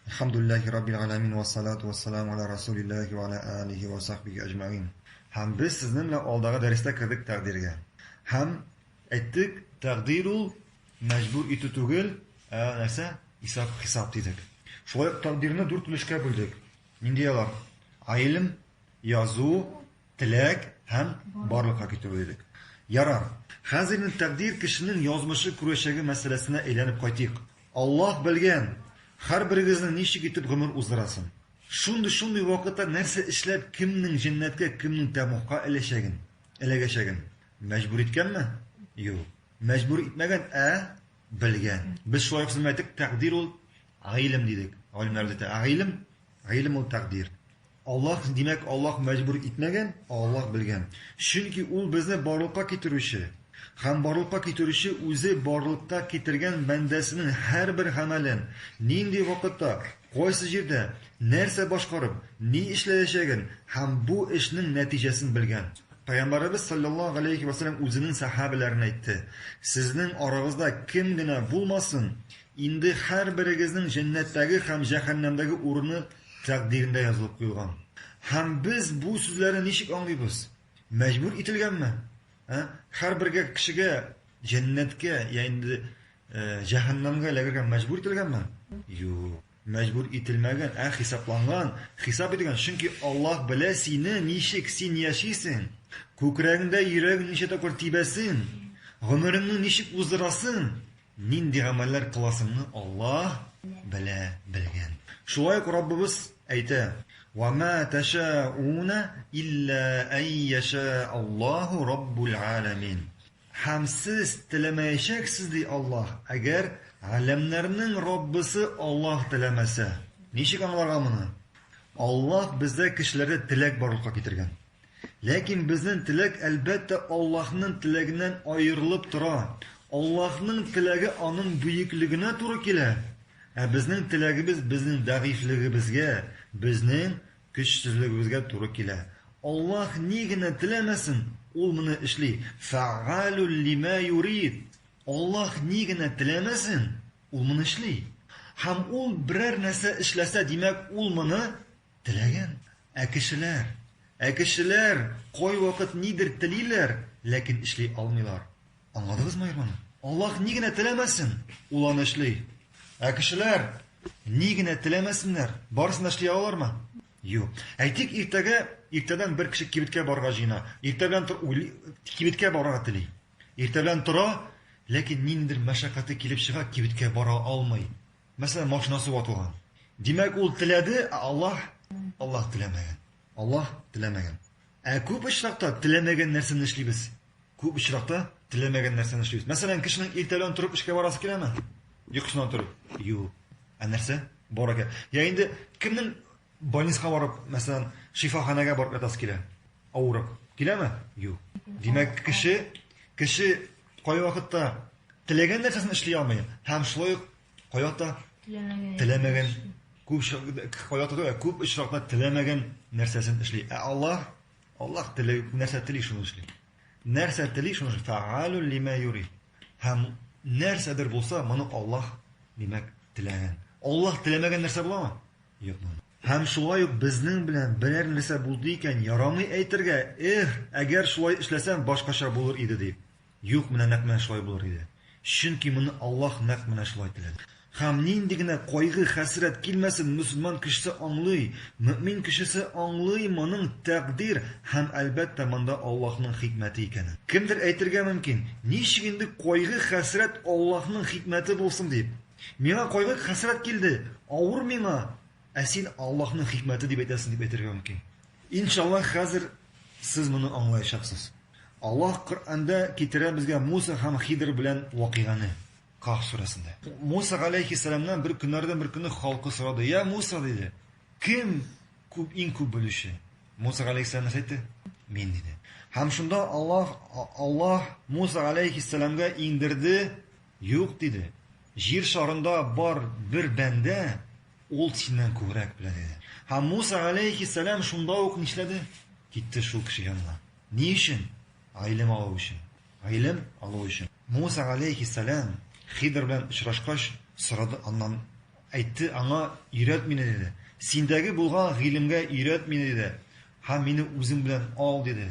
Әлхәмдүлилләһи раббил галәмин вә салату вә салам аля расулилләһи вә аля алихи вә сахбихи әҗмәгыйн. Һәм без сезнең белән алдагы дәрестә кердек тәкъдиргә. Һәм әйттек, тәкъдир ул мәҗбүр итү түгел, ә нәрсә? Исап-хисап дидек. Шулай ук тәкъдирне дүрт өлешкә бүлдек. Нинди алар? Гыйлем, язу, теләк һәм барлыкка китерү дидек. Ярар. Хәзер инде тәкъдир кешенең язмышы күрәчәге мәсьәләсенә әйләнеп кайтыйк. Аллаһ белгән, хәрберегезнең ничек итеп гомер уздырасын. Шундый-шундый вакытта нәрсә эшләп, кемнең җәннәткә, кемнең тәмугка эләчәген, эләгәчәген. Мәҗбүр иткәнме? Юк. Мәҗбүр итмәгән, ә белгән. Без шулай ук сезнең әйтек, тәкъдир ул гыйлем дидек. Галимнәр дә әйтә, гыйлем, гыйлем ул тәкъдир. Аллаһ, димәк, Аллаһ мәҗбүр итмәгән, ә Аллаһ белгән. Чөнки Ул безне барлыкка китерүче. Һәм барлыкка китерүче Үзе барлыкка китергән бәндәсенең һәрбер гамәлен, нинди вакытта, кайсы җирдә, нәрсә башкарып, ни эшләячәген һәм бу эшнең нәтиҗәсен белгән. Пәйгамбәребез салләллаһу галәйһи вә сәлләм үзенең сәхәбәләренә әйтте, Сезнең арагызда кем генә булмасын, инде һәрберегезнең җәннәттәге һәм җәһәннәмдәге урыны тәкъдирендә язылып куелган. Һәм без бу сүзләрне ничек аңлыйбыз? Мәҗбүр ителгәнме? Ә? Һәрбер кешегә җәннәткә я инде җәһәннәмгә эләгергә мәҗбүр ителгәнме? Юк. Мәҗбүр ителмәгән, ә хисапланган. Хисап ителгән, чөнки Аллаһ белә сине, ничек син яшисең, күкрәгеңдә йөрәгең ничә тапкыр тибәсен, гомереңне ничек уздырасың. Нинди гамәлләр кыласыңны Аллаһ белә белгән. Шулай ук Раббыбыз әйтә, Ва ма тәшәәуна илля ән йәшәә Аллаһу раббул әләмин. Һәм сез теләмәячәксез, ди Аллаһ, әгәр Галәмнәрнең Раббысы Аллаһ теләмәсә. Ничек аңларга моны? Аллаһ бездә кешеләрдә теләк барлыкка китергән. Ләкин безнең теләк, әлбәттә, Аллаһның теләгеннән аерылып тора. Аллаһның теләге Аның бөеклегенә туры килә, ә безнең теләгебез безнең дәгыйфьлегебезгә, безнең көчсезлегебезгә туры килә. Аллаһ ни генә теләмәсен, Ул моны эшли. Фәгъалун лима юрид. Аллаһ ни генә теләмәсен, Ул моны эшли. Һәм Ул берәр нәрсә эшләсә, димәк, Ул моны Теләгән, ә кешеләр, ә кешеләр кайвакыт нидер телиләр, ләкин эшли алмыйлар. Аңладыгызмы Ирманы? Аллаһ ни генә теләмәсен, ул аны эшли. Ә кешеләр ни генә теләмәсеннәр, барысын да эшли алалармы? Юк. Әйтик, иртәгә, иртәдән бер кеше кибеткә барырга җыена. Иртә белән тор, уйлый, кибеткә барырга тели. Иртә белән тора, ләкин ниндидер мәшәкате килеп чыга, кибеткә бара алмый. Мәсәлән, машинасы ватылган. Димәк, ул теләде, ә Аллаһ, Аллаһ теләмәгән. Аллаһ теләмәгән. Ә күп очракта теләмәгән нәрсәне эшлибез. Күп очракта теләмәгән нәрсәне эшлибез. Мәсәлән, кешенең иртәлән торып эшкә барасы киләме? Йокысыннан торып. Юк. Ә нәрсә? Бар икән. Я инде кемнең больницага барып, мәсәлән, шифаханәгә барып ятасы килә? Авырып. Киләме? Юк. Димәк, кеше кеше Кайвакытта теләгән нәрсәсен эшли алмый һәм шулай ук кайвакытта теләмәгән күп кайвакытта күп очракта теләмәгән нәрсәсен эшли. Ә Аллаһ Аллаһ теләгән нәрсә тели шуны эшли. Нәрсә тели шуны эшли. Фаалу лима юри. Һәм нәрсәдер булса, моны Аллаһ димәк теләгән. Аллаһ теләмәгән нәрсә буламы? Юк. Һәм шулай ук безнең белән берәр нәрсә булды икән, ярамый әйтергә, Эх, әгәр шулай эшләсәм, башкача булыр иде, дип. Юк, менә нәкъ менә шулай булыр иде. Чөнки моны Аллаһ нәкъ менә шулай теләде. Һәм нинди генә кайгы-хәсрәт килмәсен, мөселман кешесе аңлый, мөэмин кешесе аңлый моның тәкъдир һәм, әлбәттә, монда Аллаһның хикмәте икәнен. Кемдер әйтергә мөмкин, Ничек инде кайгы-хәсрәт Аллаһның хикмәте булсын дип? Миңа кайгы-хәсрәт килде, авыр миңа, ә син Аллаһның хикмәте дип әйтәсең дип әйтергә мөмкин. Иншаллаһ, хәзер сез моны аңлаячаксыз. Аллаһ Коръәндә китерә безгә Муса һәм Хидр белән вакыйганы, Каһф сүрәсендә. Муса галәйһиссәламнән бер көннәрдән бер көнне халкы сорады, Йә Муса, диде, кем күп, иң күп белүче? Муса галәйһиссәлам нәрсә әйтте? Мин, диде. Һәм шунда Аллаһ, Аллаһ Муса галәйһиссәламгә иңдерде Юк, диде, җир шарында бар бер бәндә ул синнән күбрәк белә, диде. Һәм Муса галәйһиссәлам шунда ук нишләде? Китте шул кеше янына. Ни өчен? Гыйлем алу өчен. Гыйлем алу өчен. Муса галәйһиссәлам Хидр белән очрашкач, сорады аннан, әйтте аңа, Өйрәт мине, диде. Синдәге булган гыйлемгә өйрәт мине, диде. Һәм мине үзең белән ал, диде.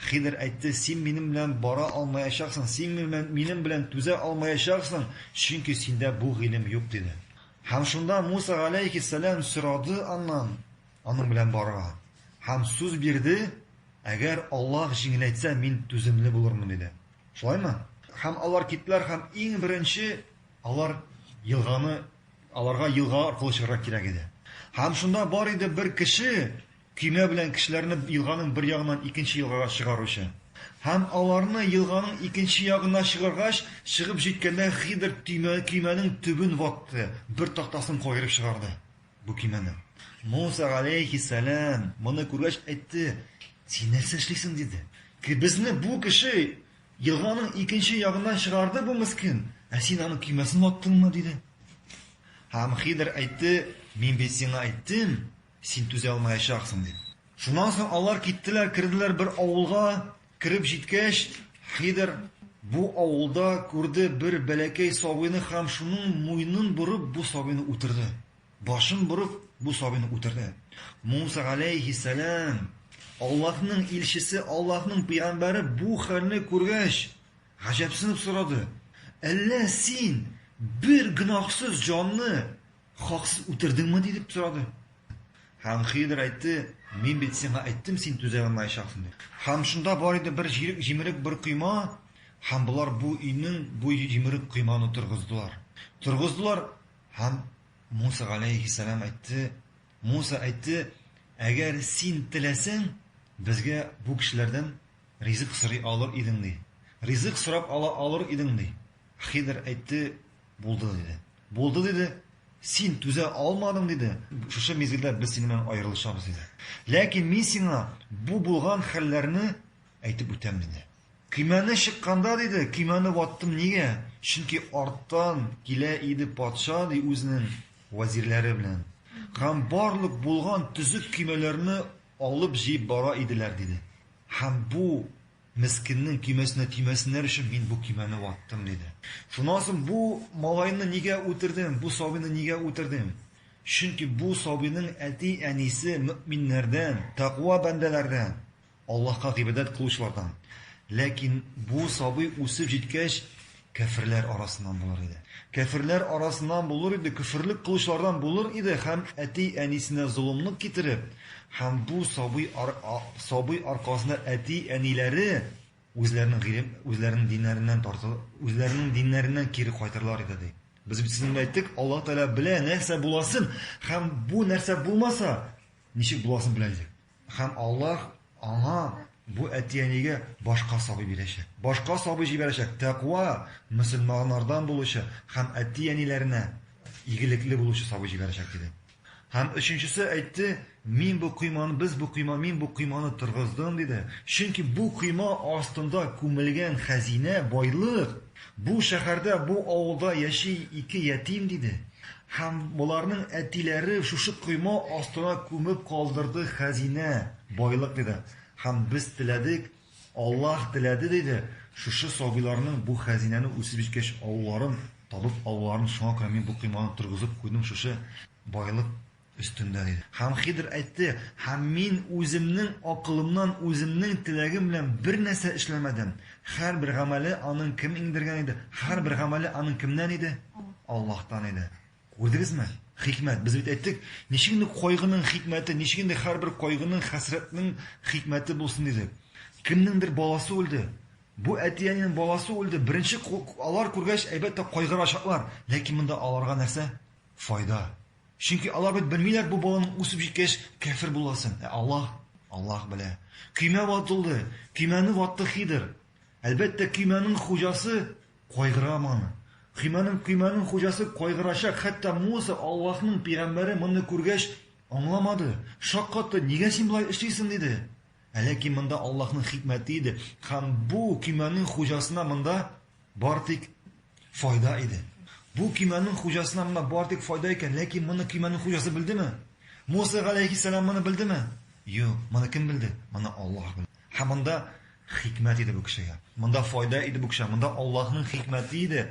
Хидр әйтте, Син минем белән бара алмаячаксың, син минем белән түзә алмаячаксың, чөнки синдә бу гыйлем юк, диде. Һәм шунда Муса галәйһиссәлам сорады аннан аның белән барырга һәм сүз бирде, Әгәр Аллаһ җиңеләйтсә, мин түземле булырмын, диде. Шулаймы? Һәм алар киттеләр һәм иң беренче алар елганы, аларга елга аркылы чыгарга кирәк иде. Һәм шунда бар иде бер кеше, көймә белән кешеләрне елганың бер ягыннан икенче елгага чыгаручы. Һәм аларны елганың икенче ягына чыгаргач, чыгып җиткәндә Хидр төймә, көймәнең төбен ватты, бер тактасын каерып чыгарды бу көймәнең. Муса галәйһиссәлам моны күргәч әйтте, Син нәрсә эшлисең? диде. Ки, безне бу кеше елганың икенче ягыннан чыгарды бу мескен, ә син аның көймәсен ваттыңмы? диде. Һәм Хидр әйтте, Мин бит сиңа әйттем, Син түзә алмаячаксың, дип. Шуннан соң алар киттеләр, керделәр бер авылга, кереп җиткәч, Хидр бу авылда күрде бер бәләкәй сабыйны һәм шуның муйнын борып бу сабыйны үтерде, башын борып бу сабыйны үтерде. Муса галәйһиссәлам, Аллаһның илчесе, Аллаһның пәйгамбәре бу хәлне күргәч, гаҗәпсенеп сорады, Әллә син бер гөнаһсыз җанны Хаксыз үтердеңме? дип сорады. Һәм Хидр әйтте, мин бит сиңа әйттем, син түзә алмаячаксың дип. Һәм шунда бар иде бер җирек җимерек бер койма, һәм болар бу өйнең бу җимерек койманы торгыздылар. Торгыздылар, һәм Муса галәйһиссәлам әйтте, Муса әйтте, әгәр син теләсәң, безгә бу кешеләрдән ризык сорый алыр идең, ди. Ризык сорап ала алыр идең, ди. Хидр әйтте, Булды, диде. Булды, диде. Син түзә алмадың, диде. Шушы мизгелдә без синең белән аерылышабыз, диде. Ләкин мин сиңа бу булган хәлләрне әйтеп үтәм, диде. Көймәне чыкканда, диде, көймәне ваттым, нигә? Чөнки арттан килә иде патша, ди, үзенең вәзирләре белән. Һәм барлык булган төзек көймәләрне алып җыеп бара иделәр, диде. Һәм бу Мескеннең көймәсенә тимәсеннәр өчен мин бу көймәне ваттым, диде. Шуннан соң, Бу малайны нигә үтердең? Бу сабыйны нигә үтердең? Чөнки бу сабыйның әти-әнисе мөэминнәрдән, тәкъва бәндәләрдән, Аллаһка гыйбадәт кылучылардан. Ләкин бу сабый үсеп җиткәч, Кәферләр арасыннан булыр иде. Кәферләр арасыннан булыр иде, көферлек кылучылардан булыр иде һәм әти-әнисенә золымлык китереп, һәм бу сабый ар, а, сабый аркасында әти-әниләре үзләренең гыйлем, үзләренең диннәреннән тартыл, үзләренең диннәреннән кире кайтырлар иде, ди. Без бит сезнең белән әйттек, Аллаһ Тәгалә белә нәрсә буласын һәм бу нәрсә булмаса, ничек буласын белә, дидек. Һәм Аллаһ аңа, бу әти-әнигә, башка сабый бирәчәк. Башка сабый җибәрәчәк, тәкъва, мөселманнардан булучы һәм әти-әниләренә игелекле булучы сабый җибәрәчәк, диде. Һәм өченчесе әйтте, Мин бу койманы, без бу койма, мин бу койманы торгыздым, диде. Чөнки бу койма астында күмелгән хәзинә, байлык. Бу шәһәрдә, бу авылда яши ике ятим, диде һәм боларның әтиләре шушы койма астына күмеп калдырды хәзинә, байлык, диде һәм без теләдек, Аллаһ теләде, диде, шушы сабыйларның бу хәзинәне үсеп җиткәч авылларын табып алуларын, шуңа күрә мин бу койманы торгызып куйдым, шушы байлык. Өстендә, диде. Һәм Хидр әйтте, Һәм мин үземнең акылымнан үземнең теләгем белән бернәрсә эшләмәдем. Һәрбер гамәле аның кем иңдергән иде? Һәрбер гамәле аның кемнән иде? Аллаһтан иде. Күрдегезме? Хикмәт. Без бит әйттек, ничек инде кайгының хикмәте, ничек инде һәрбер кайгының, хәсрәтнең хикмәте булсын дидек. Кемнеңдер баласы үлде. Бу әти-әнинең баласы үлде. Беренче алар күргәч, әлбәттә, кайгырачаклар. Ләкин монда аларга нәрсә? Файда. Чөнки алар бит белмиләр бу баланың үсеп җиткәч кәфер буласын. Ә Аллаһ, Аллаһ белә. Көймә ватылды, көймәне ватты Хидр. Әлбәттә, көймәнең хуҗасы кайгыра моны. Көймәнең көймәнең хуҗасы кайгырачак, хәтта Муса, Аллаһның пигамбәре моны күргәч, аңламады, шаккатты, нигә син болай эшлисең, диде. Ә ләкин монда Аллаһның хикмәте иде, һәм бу көймәнең хуҗасына монда Бары тик файда иде. Бу көймәнең хуҗасына мына бары тик файда икән, ләкин моны көймәнең хуҗасы белдеме? Муса галәйһиссәлам моны белдеме? Юк, моны кем белде? Моны Аллаһ белде. Һәм монда хикмәт иде бу кешегә. Монда файда иде бу кешегә. Монда Аллаһның хикмәте иде.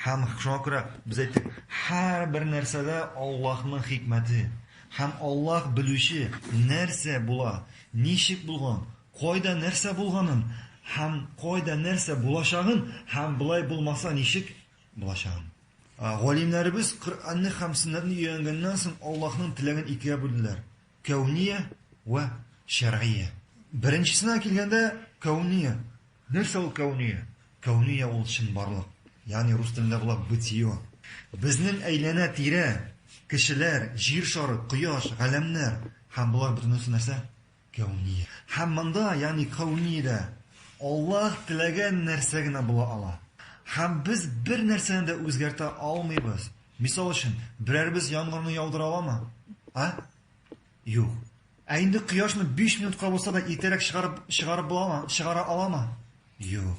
Һәм шуңа күрә без әйттек, һәрбер нәрсәдә Аллаһның хикмәте. Һәм Аллаһ белүче, нәрсә була, ничек булган, Кайда нәрсә булганын һәм кайда нәрсә булачагын һәм болай булмаса ничек булачагын. Галимнәребез Коръәнне һәм Сөннәтне өйрәнгәннән соң Аллаһның теләген икегә бүлделәр, кәүния вә шәргыя. Беренчесенә килгәндә, кәүния. Нәрсә ул кәүния? Кәүния ул чынбарлык, ягъни рус телендә була бытие. Безнең әйләнә-тирә, кешеләр, җир шары, кояш, галәмнәр һәм болар бөтенесе нәрсә? Кәүния. Һәм монда, ягъни Кәүниядә, Аллаһ теләгән нәрсә генә була ала. Һәм без бер нәрсәне дә үзгәртә алмыйбыз. Мисал өчен, берәребез яңгырны яудыра аламы? А? Юк. Ә инде кояшны биш минутка булса да иртәрәк чыгарып чыгарып буламы, чыгара аламы? Юк.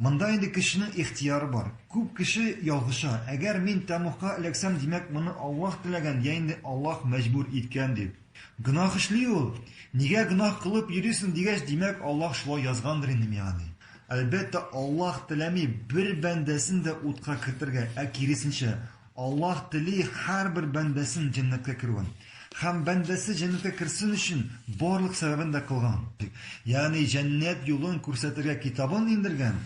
Монда инде кешенең ихтыяры бар. Күп кеше ялгыша, әгәр мин тәмугка эләксәм, димәк, моны Аллаһ теләгән йә инде Аллаһ мәҗбүр иткән дип. Гөнаһ эшли ул. Нигә гөнаһ кылып йөрисең дигәч, димәк, Аллаһ шулай язгандыр инде миңа, ди. Әлбәттә, Аллаһ теләми бер бәндәсен дә утка кертергә, ә киресенчә, Аллаһ тели һәрбер бәндәсен җәннәткә керүен. Һәм бәндәсе җәннәткә керсен өчен барлык сәбәбен дә кылган. Ягъни җәннәт юлын күрсәтергә китабын иңдергән.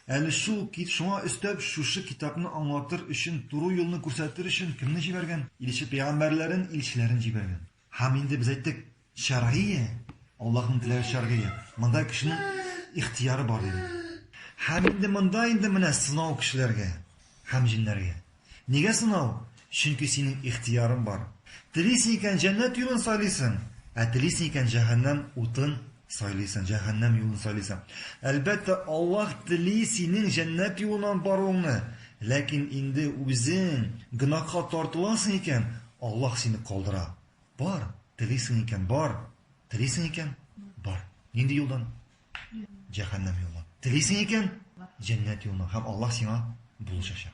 Әле шул, шуңа өстәп, шушы китапны аңлатыр өчен, туры юлны күрсәтер өчен кемне җибәргән? Илче-пәйгамбәрләрен, илчеләрен җибәргән. Һәм инде без әйттек, шәргыйя, Аллаһның теләге шәргыйя, монда кешенең ихтыяры бар дидек. Һәм инде монда инде менә сынау кешеләргә һәм җеннәргә. Нигә сынау? Чөнки синең ихтыярың бар. Телисең икән, җәннәт юлын сайлыйсың, ә телисең икән, җәһәннәм утын Сайлыйсың, җәһәннәм юлын сайлыйсың. Әлбәттә, Аллаһ тели синең җәннәт юлына баруыңны, ләкин инде үзең гөнаһка тартыласың икән, Аллаһ сине калдыра. Бар, телисең икән, бар, телисең икән, бар. Нинди юлдан? Җәһәннәм юлына. Телисең икән, җәннәт юлына һәм Аллаһ сиңа булышачак.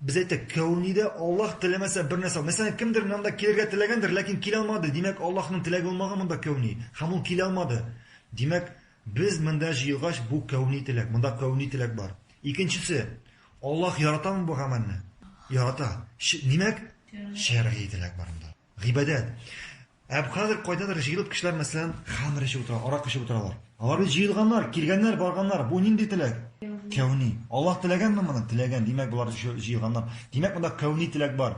Без әйтәк, Кәүнидә Аллаһ теләмәсә бер нәрсә, мәсәлән, кемдер монда килергә теләгәндер, ләкин килә алмады, димәк, Аллаһның теләге булмаган монда кәүни, һәм ул килә алмады. Димәк, без монда җыелгач, бу кәүни теләк, монда кәүни теләк бар. Икенчесе, Аллаһ яратамы бу гамәлне? Ярата. Димәк, шәргый теләк бар монда. Гыйбадәт. Ә хәзер кайдадыр җыелып кешеләр, мәсәлән, хәмер эчеп утыра, арак эчеп утыралар. Алар бит җыелганнар, килгәннәр, барганнар. Бу нинди теләк? Кәүни. Аллаһ теләгәнме моны? Теләгән. Димәк, болар җыелганнар. Димәк, монда кәүни теләк бар.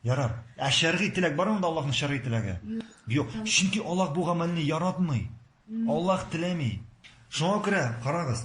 Ярар. Ә шәргый теләк бар монда Аллаһның шәргый теләге? Юк. Чөнки Аллаһ бу гамәлне яратмый. Аллаһ теләми. Шуңа күрә, карагыз,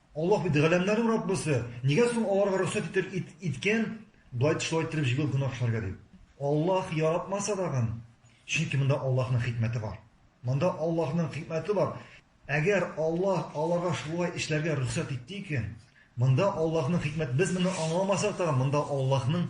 Аллаһ бит галәмнәрнең Раббысы, нигә соң аларга рөхсәт итер ит, иткән болай шулай иттереп җигү гөнаһ эшләргә дип? Аллаһ яратмаса тагын, чөнки монда Аллаһның хикмәте бар. Монда Аллаһның хикмәте бар. Әгәр Аллаһ аларга шулай эшләргә рөхсәт итте икән, монда Аллаһның хикмәт, без моны аңламасак тагын, монда Аллаһның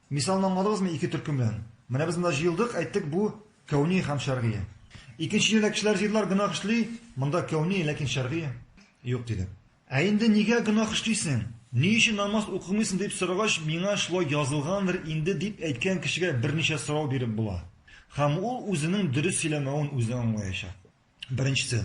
Мисалны аңладыгызмы ике төркем белән? Менә без монда җыелдык, әйттек, бу, кәүни һәм шәргые. Икенче җирдә кешеләр җыелдылар, гөнаһ эшли, монда кәүни, ләкин шәргые юк, дидек. Ә инде нигә гөнаһ эшлисең? Ни өчен намаз укымыйсың? дип сорагач, миңа шулай язылгандыр инде, дип әйткән кешегә берничә сорау биреп була. Һәм ул үзенең дөрес сөйләмәвен үзе аңлаячак. Беренчесе.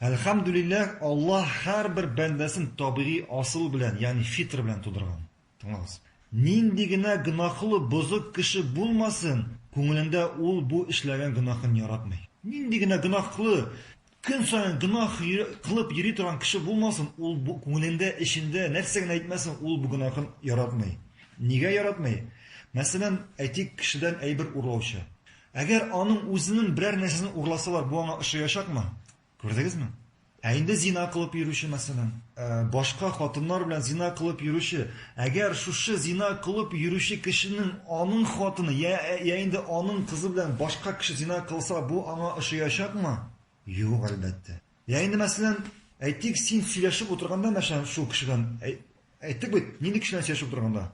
Әлхәмдүлилләһ, Аллаһ һәрбер бәндәсен табигый асыл белән, ягъни фитр белән тудырган. Тыңлагыз. Нинди генә гөнаһлы, бозык кеше булмасын, күңелендә ул бу эшләгән гөнаһын яратмый. Нинди генә гөнаһлы, көн саен гөнаһ кылып йөри торган кеше булмасын, ул бу күңелендә, эчендә нәрсә генә әйтмәсен, ул бу гөнаһын яратмый. Нигә яратмый? Мәсәлән, әйтик, кешедән әйбер урлаучы. Әгәр аның үзенең берәр нәрсәсен урласалар, бу аңа ошаячакмы? Күрдегезме? Ә инде зина кылып йөрүче, мәсәлән. Башка хатыннар белән зина кылып йөрүче. Әгәр шушы зина кылып йөрүче кешенең аның хатыны я, я инде аның кызы белән башка кеше зина кылса, бу аңа ошыячакмы? Юк, әлбәттә. Я инде, мәсәлән, әйтик, син сөйләшеп утырганда, мәсәлән, шул кеше белән, әй, Әйттек бит, нинди кешеләр сөйләшеп утырганда.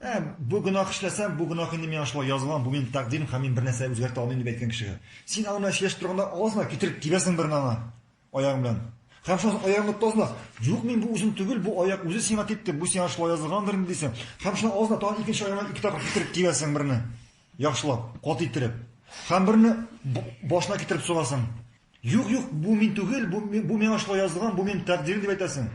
Ә, бу гөнаһ эшләсәм, бу гөнаһ инде миңа шулай язылган, бу минем тәкъдирем һәм мин бернәрсә үзгәртә алмыйм дип әйткән кешегә. Син аның белән сөйләшеп торганда аласың да китереп тибәсең берне аңа аягың белән. Һәм шуннан соң аягыңны тотасың да, юк, мин бу үзем түгел, бу аяк үзе сиңа типте, бу сиңа шулай язылгандыр инде дисең. Һәм шуннан аласың да тагын икенче аягыңа ике тапкыр китереп тибәсең берне. Яхшылап, кат иттереп. Һәм берне башына китереп сугасың. Юк, юк, бу мин түгел, бу, бу миңа шулай язылган, бу минем тәкъдирем дип әйтәсең.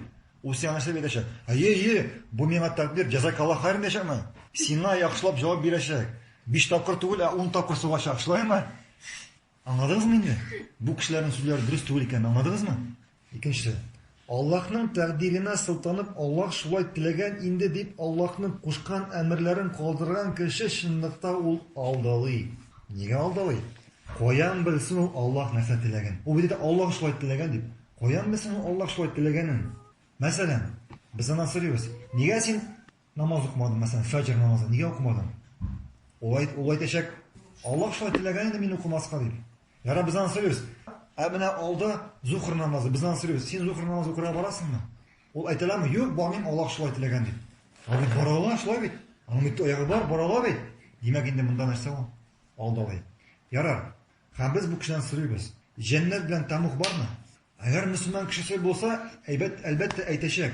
Ул сиңа нәрсә дип әйтәчәк? Әйе, әйе, бу миңа тәкъдир, җәзакалла хайран дияшәкме? Сиңа яхшылап җавап бирәчәк. Биш тапкыр түгел, ә ун тапкыр сугачак, шулаймы? Аңладыгызмы инде? Бу кешеләрнең сүзләре дөрес түгел икәнен аңладыгызмы? Икенче. Аллаһның тәкъдиренә сылтанып, Аллаһ шулай теләгән инде дип Аллаһның кушкан әмерләрен калдырган кеше чынлыкта ул алдалый. Нигә алдалый? Каян белсен ул Аллаһ нәрсә теләген? Ул бит әйтә, Аллаһ шулай теләгән дип. Каян белсен ул Аллаһ шулай теләгәнен? Мәсәлән, без аннан сорыйбыз, Нигә син Намаз укымадым, мәсәлән, фәҗр намазын нигә укымадым? Ул әйт, ул әйтәчәк, Аллаһ шулай теләгән инде мин укымаска дип. Яра без аны сөйлибез. Ә менә алда зухр намазы, без аны сөйлибез. Син зухр намазы укырга барасыңмы? Ул әйтәләме? Юк, бармыйм, Аллаһ шулай теләгән дип. Ә бит бара ала, шулай бит. Аның бит аягы бар, бара ала бит. Димәк, инде монда нәрсә ул? Алдалый. Ярар. Һәм без бу кешедән сөйлибез. Җәннәт белән тәмух бармы? Әгәр мөселман кешесе булса, әйбәт, әлбәттә әйтәчәк.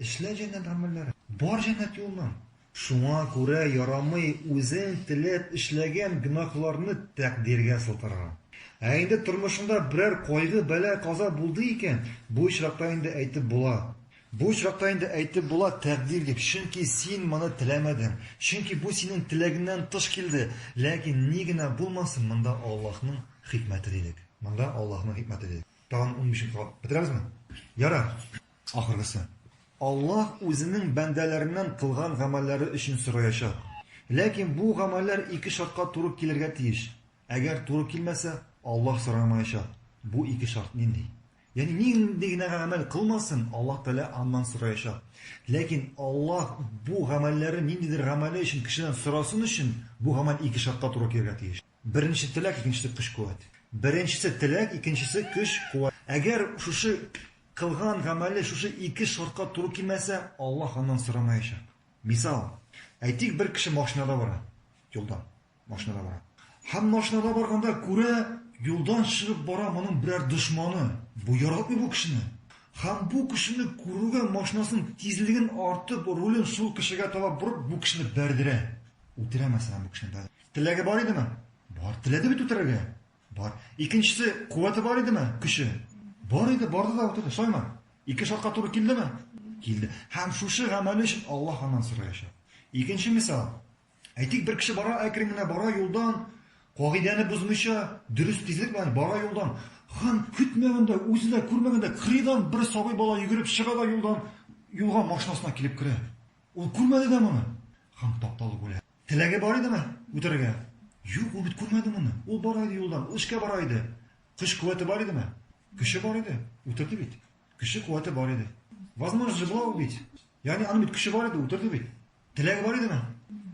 Эшлә җәннәт гамәлләрең. Бар җәннәт юлыннан. Шуңа күрә ярамый үзең теләп эшләгән гөнаһларны тәкъдиргә сылтарга. Ә инде тормышыңда берәр кайгы, бәла, каза булды икән, бу очракта инде әйтеп була. Бу очракта инде әйтеп була, тәкъдир дип, чөнки син моны теләмәдең, чөнки бу синең теләгеңнән тыш килде. Ләкин ни генә булмасын, монда Аллаһның хикмәте дидек. Монда Аллаһның хикмәте дидек. Тагын унбиш минутка калып бетерәбезме? Ярар. Ахыргысы. Аллаһ Үзенең бәндәләреннән кылган гамәлләре өчен сораячак. Ләкин бу гамәлләр ике шартка туры килергә тиеш. Әгәр туры килмәсә, Аллаһ сорамаячак. Бу ике шарт нинди? Ягъни нинди генә гамәл кылмасын, Аллаһ Тәгалә аннан сораячак. Ләкин Аллаһ бу гамәлләре ниндидер гамәле өчен кешедән сорасын өчен, бу гамәл ике шартка туры килергә тиеш. Беренче теләк, икенчесе көч-куәт. Беренчесе теләк, икенчесе көч-куәт. Әгәр шушы кылган гамәле шушы ике шартка туры килмәсә, Аллаһ аннан сорамаячак. Мисал, әйтик, бер кеше машинада бара, юлда, машинада бара. Һәм машинада барганда күрә, юлдан чыгып бара моның берәр дошманы. Бу яратмый бу кешене. Һәм бу кешене күрүгә машинасын тизлеген артып, рулен шул кешегә таба борып, бу кешене бәрдерә. Үтерә мәсәлән бу кешене. Теләге бар идеме? Бар. Теләде бит үтерергә? Бар. Икенчесе куәте бар идеме? Көче? Бар иде, барды да үтерде. Шулаймы? Ике шартка туры килдеме? Килде. Һәм шушы гамәле өчен Аллаһ аннан сораячак. Икенче мисал. Әйтик, бер кеше бара, әкрен генә бара юлдан, кагыйдәне бозмыйча, дөрес тизлек белән бара юлдан. Һәм көтмәгәндә, үзе дә күрмәгәндә, кырыйдан бер сабый бала йөгереп чыга да юлдан, юлга машинасына килеп керә. Ул күрмәде дә моны. Һәм тапталып үлә. Теләге бар идеме үтәргә? Юк, ул бит күрмәде моны. Ул бара иде юлдан, ул эшкә бара иде. Көч куәте бар идеме? Көче бар иде. Үтерде бит. Көче куәте бар иде. Возможно же была убить. Ягъни аның бит көче бар иде, үтерде бит. Теләге бар идеме?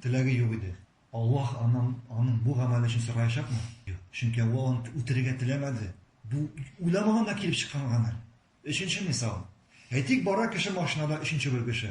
Теләге юк иде. Аллаһ аннан аның бу гамәле өчен сораячакмы? Юк. Чөнки ул аны үтерергә теләмәде. Бу уйламаганда килеп чыккан гамәл. Өченче мисал. Әйтик, бара кеше машинада өченче бер кеше.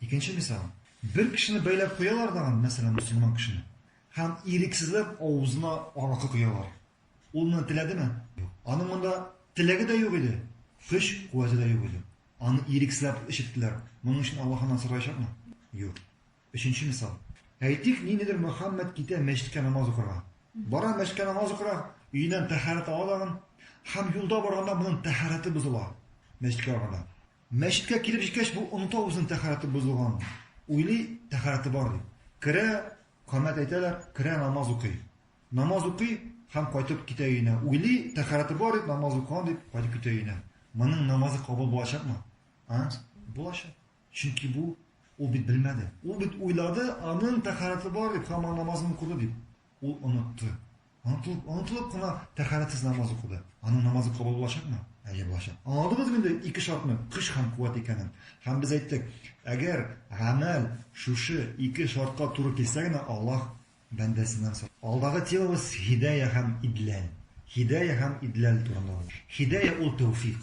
Икенче мисал. Бер кешене бәйләп куялар тагын, мәсәлән, мөселман кешене, һәм ирексезләп авызына аракы коялар. Ул моны теләдеме? Юк. Аның монда теләге дә юк иде, көч-куәте дә юк иде. Аны ирексезләп эчерттеләр. Моның өчен Аллаһ аннан сораячакмы? Юк. Өченче мисал. Әйтик, ниндидер Мөхәммәд китә мәчеткә намаз укырга. Бара мәчеткә намаз укырга, өеннән тәһарәт ала тагын, һәм юлда барганда моның тәһарәте бозыла, мәчеткә барганда. Мәчеткә килеп җиткәч, бу оныта үзенең тәһарәте бозылганын. Уйлый, тәһарәте бар дип. Керә, камәт әйтәләр, керә, намаз укый. Намаз укый һәм кайтып китә өенә. Уйлый, тәһарәте бар дип, намаз укыган дип, кайтып китә өенә. Моның намазы кабул булачакмы? А? Булачак. Чөнки бу, ул бит белмәде. Ул бит уйлады, аның тәһарәте бар дип, һәм аның намазын укыды дип. Ул онытты. Онытылып, онытылып кына тәхәрәтсез намаз укыды. Аның намазы кабул булачакмы? Әйе, булачак. Аңладыгызмы инде ике шартның көч һәм куәт икәнен? Һәм без әйттек, әгәр гамәл шушы ике шартка туры килсә генә Аллаһ бәндәсеннән сорый. Алдагы темабыз һидәя һәм идләл. Һидәя һәм идләл турында. Һидәя ул тәүфик.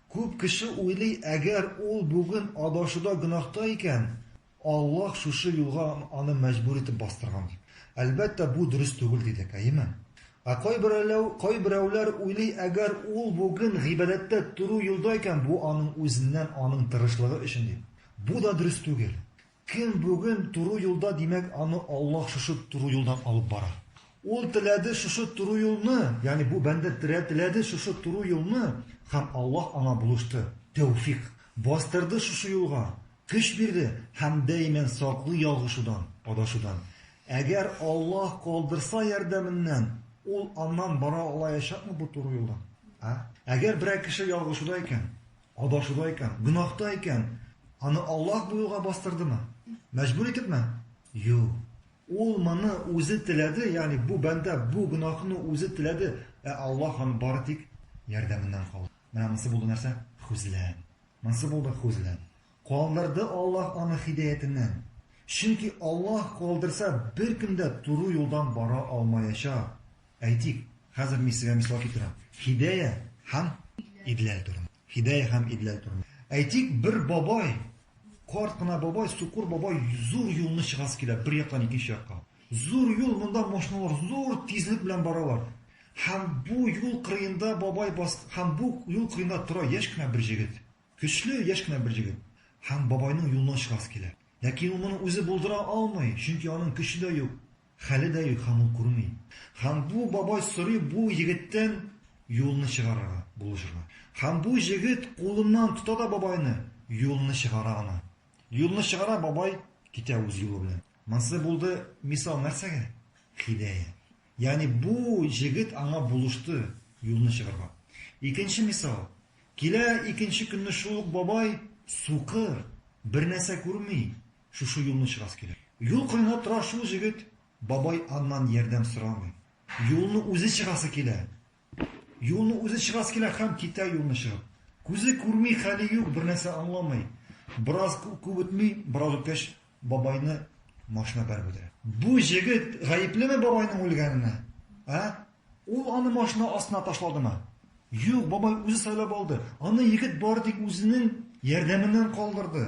Күп кеше уйлый, әгәр ул бүген адашуда гөнаһта икән, Аллаһ шушы юлга аны мәҗбүр итеп бастырган дип. Әлбәттә, бу дөрес түгел дидек, әйеме? Ә кайберәүләү, кайберәүләр уйлый, әгәр ул бүген гыйбадәттә туру юлда икән, бу аның үзеннән, аның тырышлыгы өчен дип. Бу да дөрес түгел. Кем бүген туры юлда, димәк, аны Аллаһ шушы туры юлдан алып бара. Ул теләде шушы туры юлны, ягъни бу бәндә теләде шушы туры юлны, һәм Аллаһ аңа булышты, тәүфик, бастырды шушы юлга, көч бирде һәм даимән саклый ялгышудан, адашудан. Әгәр Аллаһ калдырса ярдәменнән, ул аннан бара алаячакмы бу туры юлдан? А? Әгәр берәр кеше ялгышуда икән, Адашуда икән, гөнаһта икән, аны Аллаһ бу юлга бастырдымы? Мәҗбүр итепме? Юк. Ул моны үзе теләде, ягъни бу бәндә бу гөнаһны үзе теләде, ә Аллаһ аны бары тик ярдәменнән калды. Менә монсы булды нәрсә? Хозлән. Монсы булды хозлән. Калдырды Аллаһ аны һидаятеннән. Чөнки Аллаһ калдырса, беркем дә туры юлдан бара алмаячак. Әйтик, хәзер мин сезгә мисал китерәм. Хидәя һәм Идләл турында. Хидәя һәм Идләл турында. Әйтик, бер бабай, карт кына бабай, сукыр бабай зур юлны чыгасы килә, бер яктан икенче якка. Зур юл, монда машиналар зур тизлек белән баралар. Һәм бу юл кырыенда бабай бас, һәм бу юл кырыенда тора яшь кенә бер җегет. Көчле, яшь кенә бер җегет. Һәм бабайның юлыннан чыгасы килә. Ләкин ул моны үзе булдыра алмый, чөнки аның көче дә юк. Хәле дә юк һәм ул күрми. Һәм бу бабай сорый бу егеттән юлны чыгарырга, булышырга. Һәм бу җегет кулыннан тота да бабайны, юлны чыгара аны. Юлны чыгара, бабай китә үз юлы белән. Монсы булды мисал нәрсәгә? Хидәя. Ягъни бу җегет аңа булышты юлны чыгарга. Икенче мисал. Килә икенче көнне шул ук бабай, сукыр, бернәрсә күрми. Шушы юлны чыгасы килә. Юл кырында тора шул җегет, бабай аннан ярдәм сорамый. Юлны үзе чыгасы килә. Юлны үзе чыгасы килә һәм китә юлны чыгып. Күзе күрми, хәле юк, бернәрсә аңламый. Бераз күп үтми, бераз үткәч, бабайны машина бәреп үтерә. Бу җегет гаеплеме бабайның үлгәненә, ә? Ул аны машина астына ташладымы? Юк, бабай үзе сайлап алды. Аны егет бары тик үзенең ярдәменнән калдырды.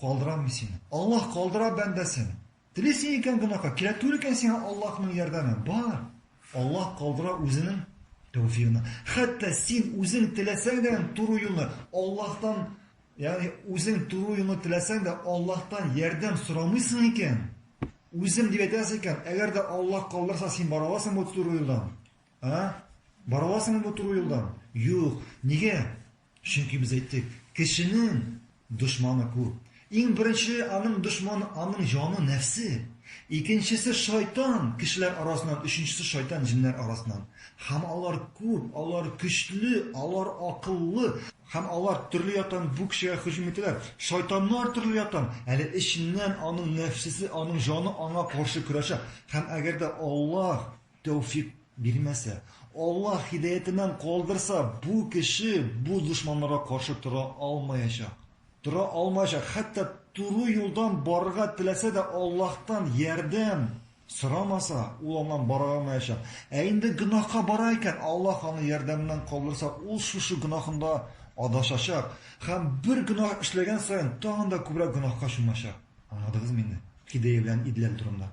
Калдырам мин сине. Аллаһ калдыра бәндәсен. Телисең икән гөнаһка, кирәк түгел икән сиңа Аллаһның ярдәме, бар. Аллаһ калдыра үзенең тәүфигына. Хәтта син үзең теләсәң дә туры юлны Аллаһтан, ягъни үзең туры юлны теләсәң дә Аллаһтан ярдәм сорамыйсың икән, үзем дип әйтәсең икән, әгәр дә Аллаһ калдырса, син бара аласың бу туры юлдан? А? Бара аласыңмы бу туры юлдан? Юк. Нигә? Чөнки без әйттек, кешенең дошманы күп. Иң беренче аның дошманы, аның җаны, нәфсе. Икенчесе, шайтан, кешеләр арасыннан, өченчесе, шайтан, җеннәр арасыннан. Һәм алар күп, алар көчле, алар акыллы. Һәм алар төрле яктан бу кешегә һөҗүм итәләр. Шайтаннар төрле яктан, әле эченнән аның нәфсесе, аның җаны аңа каршы көрәшә. Һәм әгәр дә Аллаһ Тәүфик бирмәсә, Аллаһ һидаятеннән калдырса, бу кеше бу дошманнарга каршы тора алмаячак. Тора алмаячак, хәтта туры юлдан барырга теләсә дә, Аллаһтан ярдәм сорамаса, ул аннан бара алмаячак. Ә инде гөнаһка бара икән, Аллаһ аны ярдәменнән калдырса, ул шушы гөнаһында адашачак һәм бер гөнаһ эшләгән саен тагын да күбрәк гөнаһка чумачак. Аңладыгызмы инде? Һидая белән идләл турында.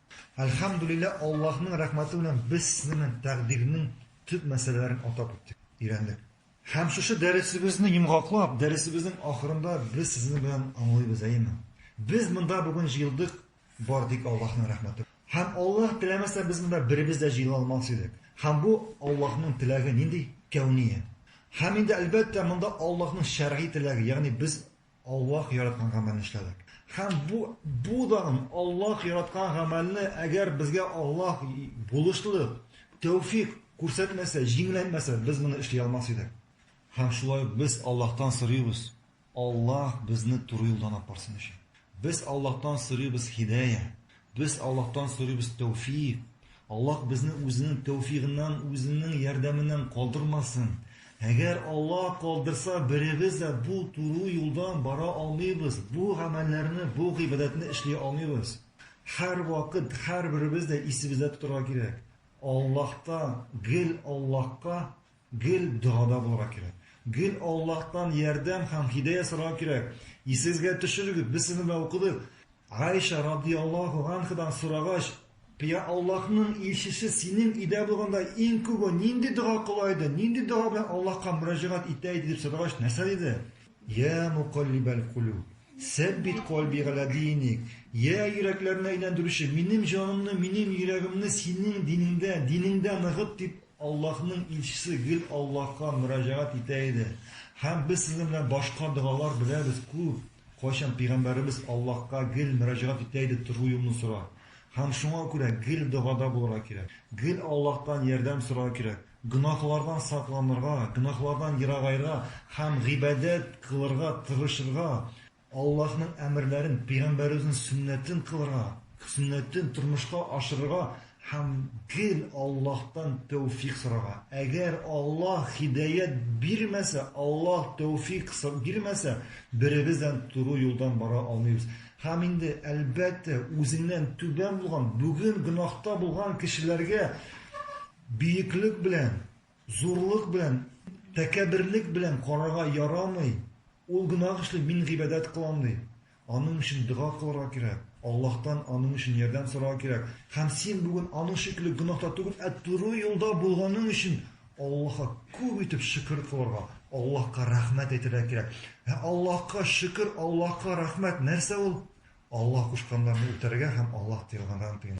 Әлхәмдүлиллә, Аллаһның рәхмәте белән без сезнемен тәкъдирнең төп мәсьәләләрен атап үттек, өйрәндек. Һәм шушы дәресебезне йомгаклап, дәресебезнең ахырында без сезнең белән аңлыйбыз, әйеме? Без монда бүген җыелдык бар тик Аллаһның рәхмәте. Һәм Аллаһ теләмәсә без монда беребез дә җыела алмас идек. Һәм бу Аллаһның теләге нинди? Кәүния. Һәм инде әлбәттә монда Аллаһның шәргый теләге, ягъни без Аллаһ яраткан гамәлне эшләдек. Һәм бу, бу дан, Аллаһ яраткан гамәлне, әгәр безгә Аллаһ булышлы тәүфик күрсәтмәсә, җиңеләйтмәсә, без моны эшли алмас идек. Һәм шулай ук без Аллаһтан сорыйбыз, Аллаһ безне туры юлдан алып барсын өчен. Без Аллаһтан сорыйбыз һидая, Без Аллаһтан сорыйбыз тәүфигъ. Аллаһ безне үзенең тәүфигъыннан, үзенең ярдәменнән калдырмасын. Әгәр Аллаһ калдырса, беребез дә бу туру юлдан бара алмыйбыз, бу гамәлләрне, бу гыйбадәтне эшли алмыйбыз. Һәрвакыт һәрберебез дә исебездә тотарга кирәк, Аллаһтан, гел Аллаһка Гел догада булырга кирәк. Гел Аллаһтан ярдәм һәм һидая сорарга кирәк. Исегезгә төшерегез, без сезнең белән укыдык. Гайша радияллаһу анхадан сорагач, Я Аллаһның илчесе, синең өйдә булганда иң күбе нинди дога кыла иде? Нинди дога белән Аллаһка мөрәҗәгать итә иде дип сорагач, нәрсә диде? Я мукаллибәл кулүб, сәббит калби галә диник. Я йөрәкләрне әйләндерүче, минем җанымны, минем йөрәгемне синең динеңдә, динеңдә ныгыт дип Аллаһның илчесе гел Аллаһка мөрәҗәгать итә иде. Һәм без сезнең белән башка догалар беләбез күп, кайчан пигамбәребез Аллаһка гел мөрәҗәгать итә иде тору юлны сора. Һәм шуңа күрә гел догада булырга кирәк. Гел Аллаһтан ярдәм сорарга кирәк. Гөнаһлардан сакланырга, гөнаһлардан ерагаерга һәм гыйбадәт кылырга тырышырга, Аллаһның әмерләрен, пигамбәребезнең сөннәтен кылырга, сөннәтен тормышка ашырырга һәм гел Аллаһтан тәүфик сорарга. Әгәр Аллаһ һидаять бирмәсә, Аллаһ тәүфик бирмәсә, беребез дә туры юлдан бара алмыйбыз. Һәм инде, әлбәттә, үзеңнән түбән булган, бүген гөнаһта булган кешеләргә биеклек белән Зурлык белән, тәкәбберлек белән карарга ярамый. Ул гөнаһ эшли, мин гыйбадәт кылам ди. Аның өчен дога кылырга кирәк, Аллаһтан аның өчен ярдәм сорарга кирәк. Һәм син бүген аның шикелле гөнаһта түгел, ә туры юлда булганың өчен Аллаһка күп итеп шөкер кылырга, Аллаһка рәхмәт әйтергә кирәк. Ә Аллаһка шөкер, Аллаһка рәхмәт нәрсә ул? Аллаһ кушканнарны үтәргә һәм Аллаһ тыелганнардан тыена.